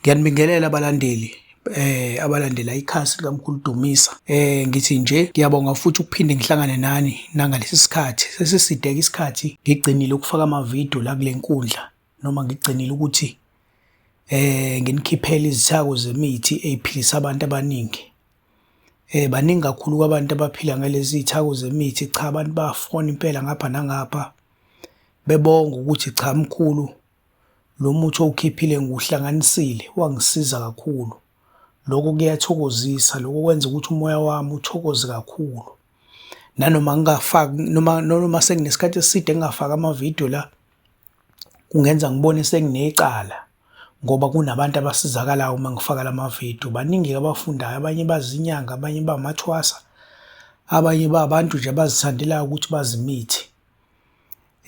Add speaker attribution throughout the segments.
Speaker 1: Ngiyanibingelela abalandeli eh abalandela ikhasi likamkhulu Dumisa eh ngithi nje ngiyabonga futhi ukuphinde ngihlangane nani nangalesi sikhathi sesisideke isikhathi ngigcinile ukufaka ama video la kulenkundla noma ngigcinile ukuthi eh nginikhiphela izithako zemithi eziphilisa abantu abaningi eh baningi kakhulu kwabantu abaphila ngalezi zithako zemithi cha abantu bafona impela ngapha nangapha bebonga ukuthi cha mkhulu Lo muthi owukhiphile ngiwuhlanganisile wangisiza kakhulu. Lokho kuyathokozisa, lokho kwenza ukuthi umoya wami uthokoze kakhulu. Nanoma ngingafaki noma noma senginesikhathi eside ngingafaki amavidiyo la, kungenza ngibone senginecala ngoba kunabantu abasizakalayo uma ngifaka la mavidiyo. Baningi-ke abafundayo, abanye bazinyanga, abanye bamathwasa, abanye babantu nje abazithandelayo ukuthi bazi imithi.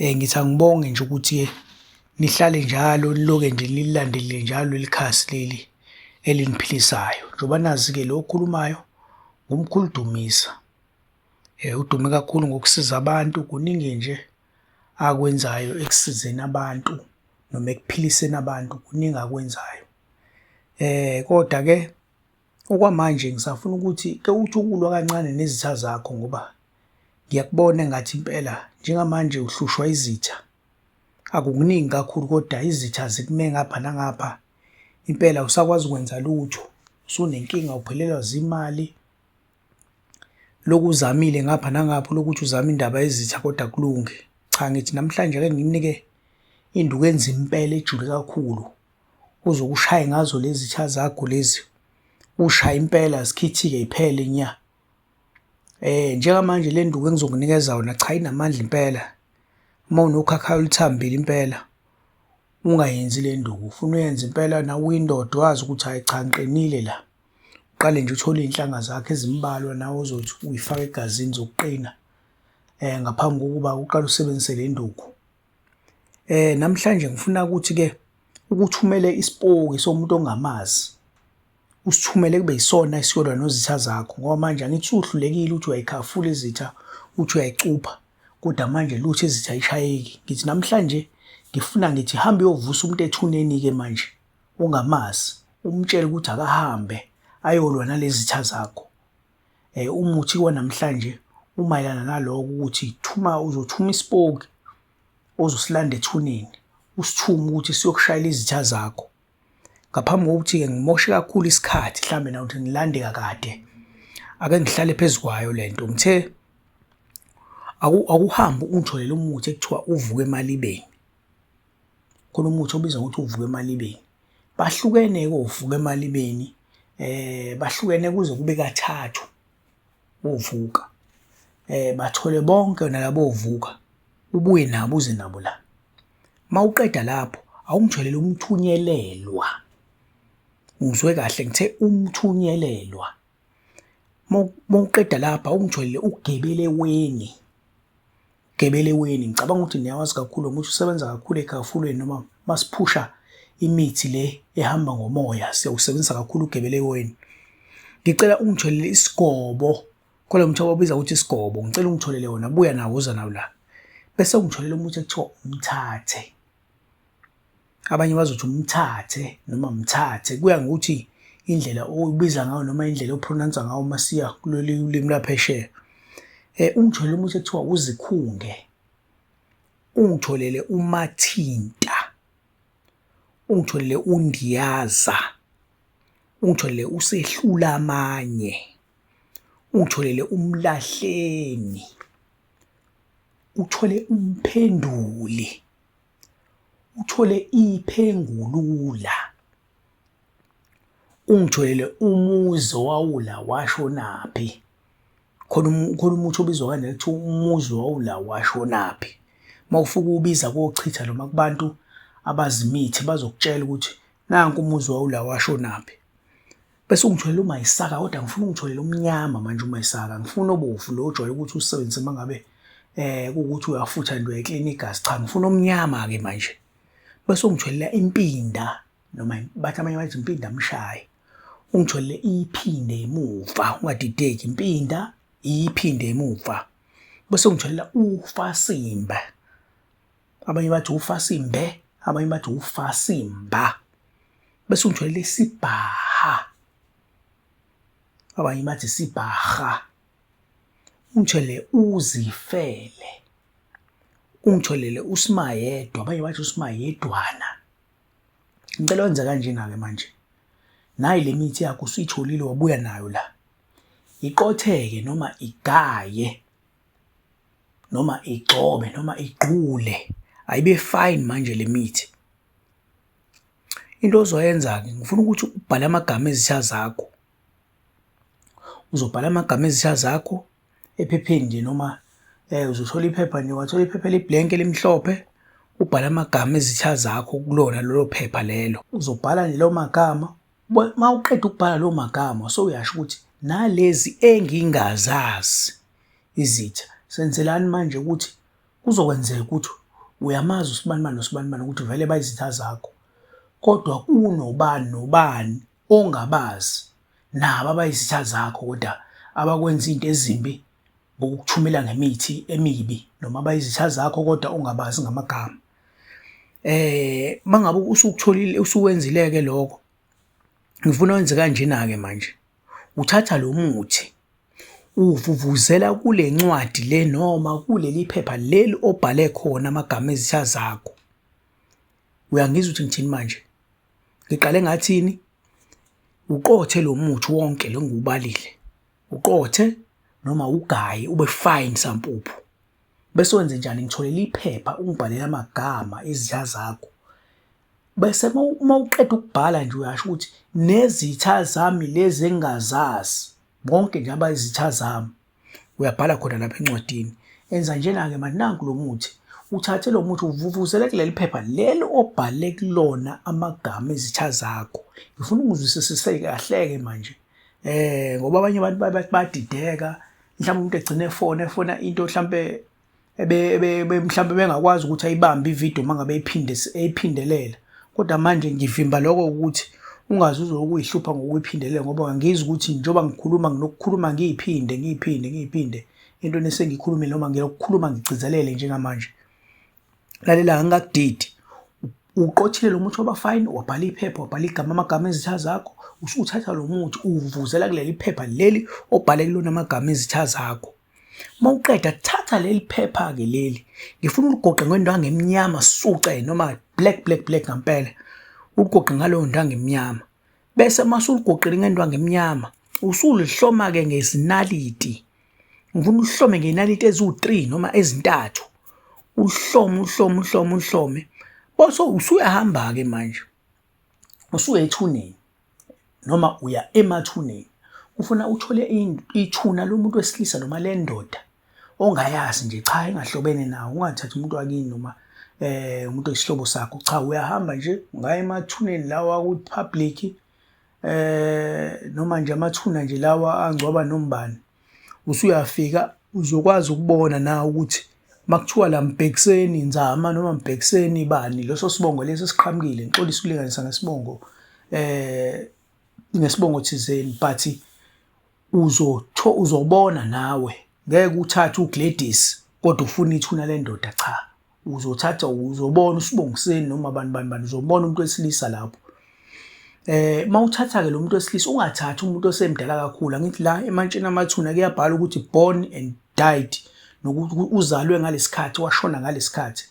Speaker 1: Eh, ngithi angibonge nje ukuthi nihlale njalo niloke nje nililandelile njalo leli khasi leli eliniphilisayo njengoba nazi-ke lo okhulumayo ngumkhulu Dumisa um udume kakhulu ngokusiza abantu kuningi nje akwenzayo ekusizeni abantu noma ekuphiliseni abantu kuningi akwenzayo um kodwa-ke Okwamanje ngisafuna ukuthi kewuthukulwa kancane nezitha zakho ngoba ngiyakubona engathi impela njengamanje uhlushwa izitha. Akukuningi kakhulu kodwa izitha zikume ngapha nangapha. Impela awusakwazi ukwenza lutho, usunenkinga uphelelwa zimali. Lokhu uzamile ngapha nangapha lokuthi uzame indaba yezitha kodwa akulungi. Cha ngithi namhlanje ake nginike induku enzima impela ejule kakhulu. uzokushaye ngazo lezi tsha zakho lezi ushaye impela zikhithike iphele nya eh njengamanje le nduku engizokunikeza yona cha inamandla impela uma unokhakha oluthambile impela ungayenzi le nduku ufuna uyenze impela na uyindoda wazi ukuthi hayi cha ngiqinile la uqale nje uthole izinhlanga zakhe ezimbalwa nawe uzothi uyifaka egazini zokuqina eh ngaphambi kokuba uqale usebenzise le nduku Eh namhlanje ngifuna ukuthi ke ukuthumele isipoki somuntu ongamazi usithumele kube yisona esiyolwa nozitha zakho ngoba manje angithi uhlulekile uthi uyayikhafula izitha uthi uyayicupha kodwa manje lutho izitha ayishayeki ngithi namhlanje ngifuna ngithi hambe uyovusa umuntu ethuneni ke manje ongamazi umtshele ukuthi akahambe ayolwa nalezitha zakho. eh, umuthi kwanamhlanje umayelana naloko ukuthi thuma uzothuma isipoki ozosilanda ethuneni usithume ukuthi siyokushayela izitha zakho ngaphambi kokuthi-ke ngimoshe kakhulu isikhathi mhlawumbe nawuthi ngilande kakade ake ngihlale phezu kwayo le nto ngithe akuhambe ungitholele umuthi ekuthiwa uvuke emalibeni khona umuthi obizwa ngokuthi uvuka emalibeni bahlukene-ke ovuka emalibeni eh bahlukene kuze kube kathathu ovuka eh bathole bonke nalabo ovuka ubuye nabo uze nabo la mawuqeda lapho awungitholele umthunyelelwa ngizwe kahle ngithe umthunyelelwa mawuqeda lapha ungitholele ugebeleweni Gebeleweni ngicabanga ukuthi niyawazi kakhulu ukuthi usebenza kakhulu egafulweni noma masiphusha imithi le ehamba ngomoya siyawusebenzisa kakhulu ugebeleweni ngicela ungitholele isigobo khona umuthi ababiza ukuthi isigobo ngicela ungitholele wona buya nawo uza nawo la bese ungitholele umuthi ekuthiwa umthathe abanye bazothi umthathe noma mthathe kuya ngokuthi indlela oyibiza ngayo noma indlela ophronansa ngayo uma siya kuleli ulimi laphesheya eh ungitholele umuthi ekuthiwa uzikhunge ungitholele umathinta ungitholele undiyaza ungitholele usehlula amanye ungitholele umlahleni uthole umphenduli uthole iphengulula ungitholele umuzi owawula washonaphi khona khona umuthi obizwa kanje kuthiwa umuzi wawula washonaphi uma ufuke ubiza kochitha noma kubantu abazimithi bazokutshela ukuthi nanku umuzi wawula washonaphi bese ungitholele umayisaka kodwa ngifuna ungitholele umnyama manje umayisaka ngifuna obovu lo ojwayele ukuthi usebenzise uma ngabe eh ukuthi uyafutha nje uyaklina igazi cha ngifuna omnyama ke manje bese ungitholele impinda noma bathi abanye bathi impinda mshaye ungitholele iphinde emuva ungadideki impinda iphinde emuva bese ungitholela ufasimba abanye bathi ufasimbe abanye bathi ufasimba bese ungithwele isibhaha abanye bathi sibhaha ungithwele uzifele ungitholele usimayedwa abanye bathi usimayedwana ngicela wenze kanjena-ke manje nayi le mithi yakho usuyitholile wabuya nayo la iqotheke noma igaye noma igxobe noma igqule ayibe fine manje le mithi. Into ozoyenza-ke ngifuna ukuthi ubhale amagama ezitha zakho. Uzobhala amagama ezitha zakho ephepheni nje noma um uzothola iphepha nje wathola iphepha elibhlenki elimhlophe ubhale amagama ezitha zakho kulona lolo phepha lelo. Uzobhala nje lawo magama Uma uqeda ukubhala loo magama sowuyasho ukuthi nalezi engingazazi izitha senzelani manje ukuthi kuzokwenzeka ukuthi uyamazi usibanibani nosibanibani ukuthi vele bayizitha zakho kodwa kunobani nobani ongabazi nabo abayizitha zakho kodwa abakwenza into ezimbi ngokukuthumela ngemithi emibi noma abayizitha zakho kodwa ongabazi ngamagama eh mangabe usukutholile usuwenzileke lokho ngifuna wenze kanjena ke manje uthatha lo muthi uvuvuzela kule ncwadi le noma kuleli phepha leli obhale khona amagama ezitha zakho uyangizwa ukuthi ngithini manje ngiqale ngathini uqothe lo muthi wonke lo ngubalile uqothe noma ugaye ube fine sampuphu Bese wenze njani? Ngitholele iphepha ungibhalele amagama izitha zakho. Bese uma uqeda ukubhala nje uyasho ukuthi nezitha zami lezi engingazazi bonke nje abayizitha zami. Uyabhala khona lapha encwadini. Enza njena-ke manje nanku lo muthi. Uthathe lo muthi uvuvuzele kuleli phepha leli obhale kulona amagama ezitha zakho. Ngifuna ungizwisisise kahle-ke manje. eh ngoba abanye abantu bathi badideka mhlawumbe umuntu egcine efona efona into mhlawumbe ebe mhlawumbe bengakwazi ukuthi ayibambe ivideo uma ngabe eyiphinde eyiphindelela kodwa manje ngivimba lokho ukuthi ungaze uze ukuyihlupha ngokuyiphindelela ngoba ngangizwa ukuthi njengoba ngikhuluma nginokukhuluma ngiyiphinde ngiyiphinde ngiyiphinde into nesengiyikhulumile noma ngiyokukhuluma ngigcizelele njengamanje lalela angakudidi uqothile lo muthi wabafayini wabhala iphepha wabhala igama amagama ezitha zakho usuthatha lo muthi uwuvuzela kuleli phepha leli obhale kulona amagama ezitha zakho mawuqeda thatha leli phepha ke leli ngifuna uligoqe ngento angemnyama suce noma black black black ngampela uligoqe ngaloyo nto angemnyama bese masuligoqile ngendwangu emnyama usulihloma ke ngezinaliti ngifuna uhlome ngenaliti eziwu-3 noma ezintathu uhlome uhlome uhlome uhlome bose usuyahamba ke manje usuya ethuneni noma uya emathuneni ufuna uthole ithuna lomuntu wesilisa noma lendoda ongayazi nje cha engahlobene nawo ungathathi umuntu wakini noma eh umuntu oyisihlobo sakho cha uyahamba nje ungaya emathuneni lawa ku-public eh noma nje amathuna nje lawa angcwaba nombani usuyafika uzokwazi ukubona na ukuthi makuthiwa la mbhekiseni nzama noma mbhekiseni bani leso sibongo lesi siqhamukile ngixolisa ukulinganisa ngesibongo eh ngesibongo thizeni but Uzotho uzobona nawe ngeke uthathe uGladys kodwa ufuna ithuna lendoda cha. Uzothatha uzobona usibongiseni noma abantu bani bani uzobona umuntu wesilisa lapho. Eh mawuthatha ke lo muntu wesilisa ungathathi umuntu osemdala kakhulu angithi la emantshini amathuna kuyabhala ukuthi born and died nokuthi uzalwe ngalesikhathi washona ngalesikhathi.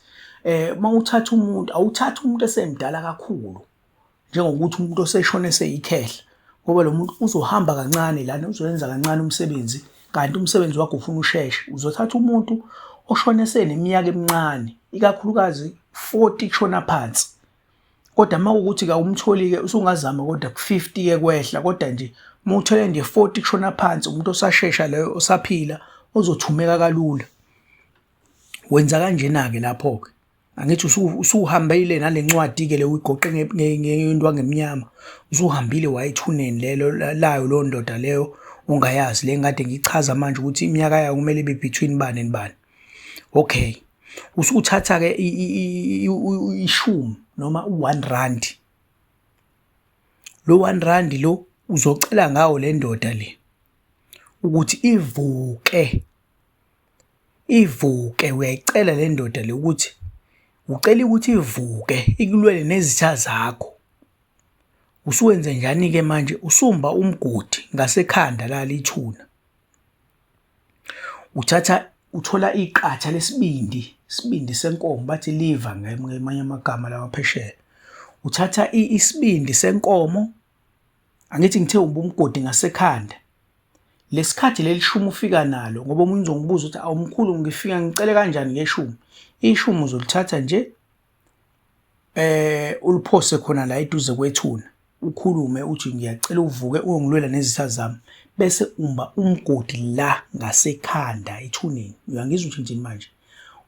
Speaker 1: Eh mawuthatha umuntu awuthatha umuntu esemdala kakhulu. njengokuthi umuntu oseshona eseyikhehla ngoba lo muntu uzohamba kancane lana uzoyenza kancane umsebenzi kanti umsebenzi wakho ufuna usheshe uzothatha umuntu oshone seneminyaka emincane ikakhulukazi 40 kushona phansi kodwa uma ukuthi kawumtholi-ke usungazama kodwa ku-50-ke kwehla kodwa nje uma uthole nje 40 kushona phansi umuntu osashesha leyo osaphila ozothumeka kalula wenza kanjena-ke lapho-ke angithi usuhambile nalencwadi ke le uyigoqe ngento angemnyama usuhambile wayithuneni lelo layo lo ndoda leyo ongayazi le ngade ngichaza manje ukuthi iminyaka yayo kumele ibe between bani and bani okay usuthatha ke ishumi noma u1 rand lo 1 rand lo uzocela ngawo le ndoda le ukuthi ivuke Ivuke uyayicela le ndoda le ukuthi ucela ukuthi ivuke ikulwele nezitha zakho. Usuwenze njani-ke manje usumba umgodi ngasekhanda la lithuna. Uthatha uthola iqatha lesibindi, isibindi senkomo bathi liva ngamanye amagama lawa phesheya. Uthatha isibindi senkomo angithi ngithe umbumgodi ngasekhanda lesikhathi lelishumi ufika nalo ngoba omunye uzongibuza ukuthi awumkhulu ngifika ngicele kanjani ngeshumi ishumi uzolithatha nje eh uliphose khona la eduze kwethuna ukhulume uthi ngiyacela uvuke uyongilwela nezitha zami bese umba umgodi la ngasekhanda ethuneni uyangizwa ukuthi njini manje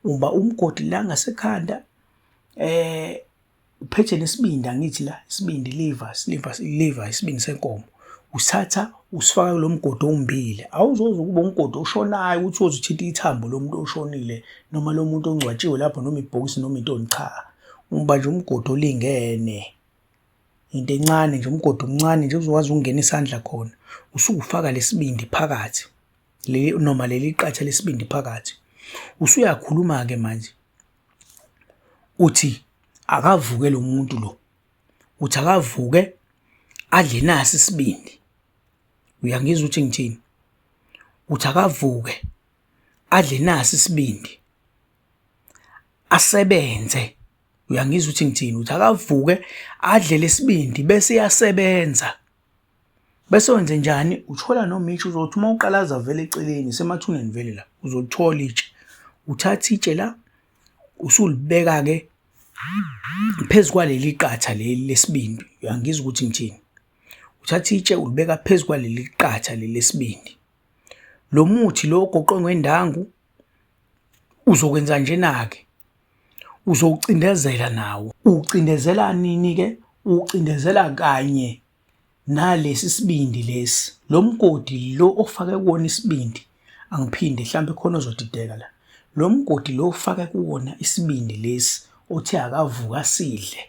Speaker 1: umba umgodi la ngasekhanda eh uphethe nesibindi angithi la isibindi liver liver liver isibindi senkomo usatha usifaka lo mgodi owumbile awuzoze ukuba umgodi oshonayo ukuthi uze uthinta ithambo lomuntu oshonile noma lo muntu ongcwatshiwe lapho noma ibhokisi noma intoni cha umba nje umgodi olingene into encane nje umgodi omncane nje uzokwazi ukungena isandla khona usukufaka lesibindi phakathi leli noma leli qatha lesibindi phakathi usuyakhuluma ke manje uthi akavuke lo muntu lo uthi akavuke adle nasi isibindi uyangizwa ukuthi ngithini uthi akavuke adle nasi isibindi asebenze uyangizwa ukuthi ngithini uthi akavuke adle lesibindi bese iyasebenza Bese wenze njani? Uthola noma itshe uzothi uma uqalaza vele eceleni semathuneni vele la uzolithola itshe. Uthatha itshe la usulibeka-ke phezu kwaleli qatha leli lesibindi, uyangizwa ukuthi ngithini. Uthatha itshe ulibeka phezu kwaleli qatha leli lesibindi. Lo muthi lo ogoqwe ngendangu uzokwenza njena-ke uzowucindezela nawo. Uwucindezela nini-ke? Uwucindezela kanye nalesi sibindi lesi, lo mgodi lo ofake kuwona isibindi, angiphinde mhlawumbe khona ozodideka la. Lo mgodi lo ofake kuwona isibindi lesi othe akavuka sidle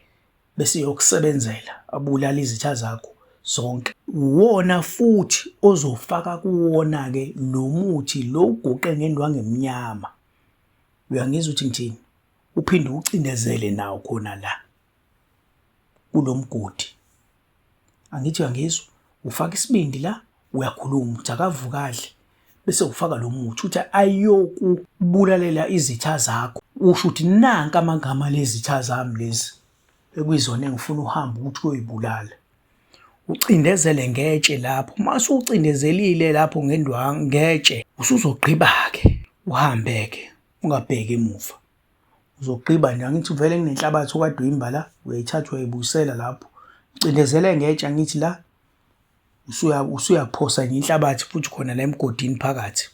Speaker 1: bese yokusebenzela abulala izitha zakho zonke. Uwona futhi ozofaka kuwona-ke lo muthi lo uguqe ngendwangu emnyama Uyangizwa ukuthi ngithini? Uphinde ucindezele nawo khona la kulomgodi. Angithi uyangizwa? Ufaka isibindi la, uyakhuluma, uthi akavuka adle bese ufaka lo muthi uthi ayokubulalela izitha zakho usho ukuthi nanka amagama lezitha zami lezi Bekuyizona engifuna uhambe ukuthi uyoyibulala. Ucindezele ngetshe lapho. Uma usucindezelile lapho ngendwangu ngetshe, usuzogqiba-ke uhambe-ke ungabheki emuva. Uzogqiba nje angithi vele kunenhlabathi okade uyimba la, uyayithatha uyayibuyisela lapho. Ucindezele ngetshe angithi la usuyaphosa nje inhlabathi futhi khona la emgodini phakathi.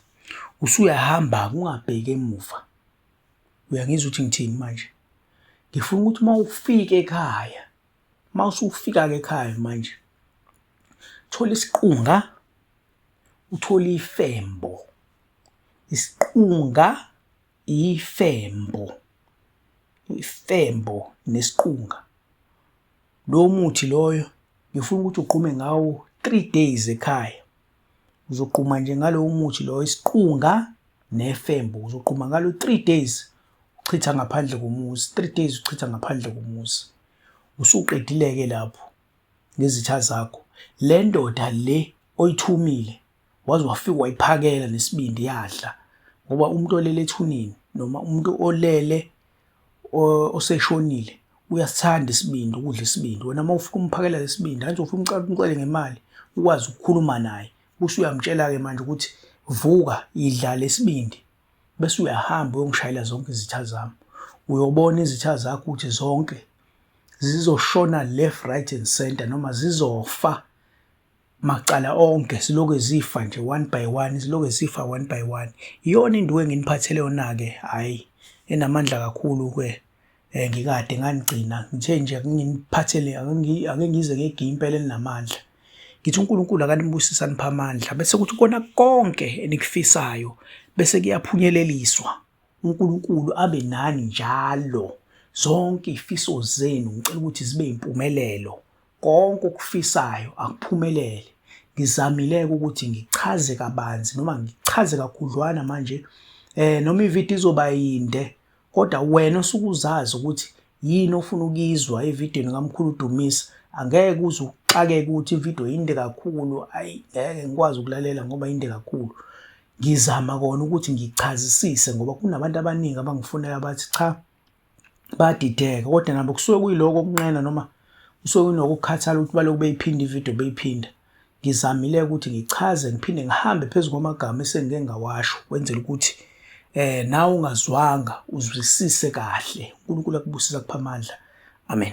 Speaker 1: Usuyahamba-ke ungabheki emuva. uyangizwa ukuthi ngithini manje ngifuna ukuthi uma ufika ekhaya uma usufika-ke ekhaya manje thola isiqunga uthole ifembo isiqunga ifembo ifembo nesiqunga Lo muthi loyo ngifuna ukuthi ugqume ngawo three days ekhaya uzogquma nje ngalowo muthi loyo isiqunga nefembo uzogquma ngalo three days uchitha ngaphandle komuzi three days uchitha ngaphandle komuzi usuqedileke lapho ngezitha zakho le ndoda le oyithumile waze wafika wayiphakela nesibindi yadla ngoba umuntu olele ethuneni noma umuntu olele oseshonile uyasithanda isibindi ukudla isibindi wena uma ufuna umphakela lesibindi angithi ufuna umcela umcele ngemali ukwazi ukukhuluma naye bese uyamtshela-ke manje ukuthi vuka idla lesibindi bese uyahamba uyongishayela zonke izitha zami uyobona izitha zakho ukuthi zonke zizoshona left right and center noma zizofa macala onke siloke zifa nje one by one siloke zifa one by one iyona induku enginiphathele yona-ke hhayi enamandla kakhulu-ke um ngikade nganigcina ngithe nje nginiphathele ake ngize ngegiye impela elinamandla ngithi uNkulunkulu akanibusisa nipha amandla bese kuthi kona konke enikufisayo bese kuyaphunyeleliswa uNkulunkulu abe nani njalo zonke izifiso zenu ngicela ukuthi zibe impumelelo Konke okufisayo akuphumelele. Ngizamileke ukuthi ngichaze kabanzi noma ngichaze kakhudlwana manje eh noma ivideo izoba yinde kodwa wena osukuzazi ukuthi yini ofuna ukuyizwa evidweni kaMkhulu Dumisa angeke uze uxakeke ukuthi ivideo yinde kakhulu ayi ngeke ngikwazi ukulalela ngoba yinde kakhulu ngizama kona ukuthi ngichazisise ngoba kunabantu abaningi abangifunela bathi cha bayadideka kodwa nabo kusuke kuyiloko okunqena noma kusuke kunokukhathala ukuthi balokhu beyiphinda ividiyo beyiphinda ngizamile ukuthi ngichaze ngiphinde ngihambe phezu kwamagama esengike ngawasho kwenzela ukuthi eh nawe ungazwanga uzwisise kahle uNkulunkulu akubusisa kupha amandla amen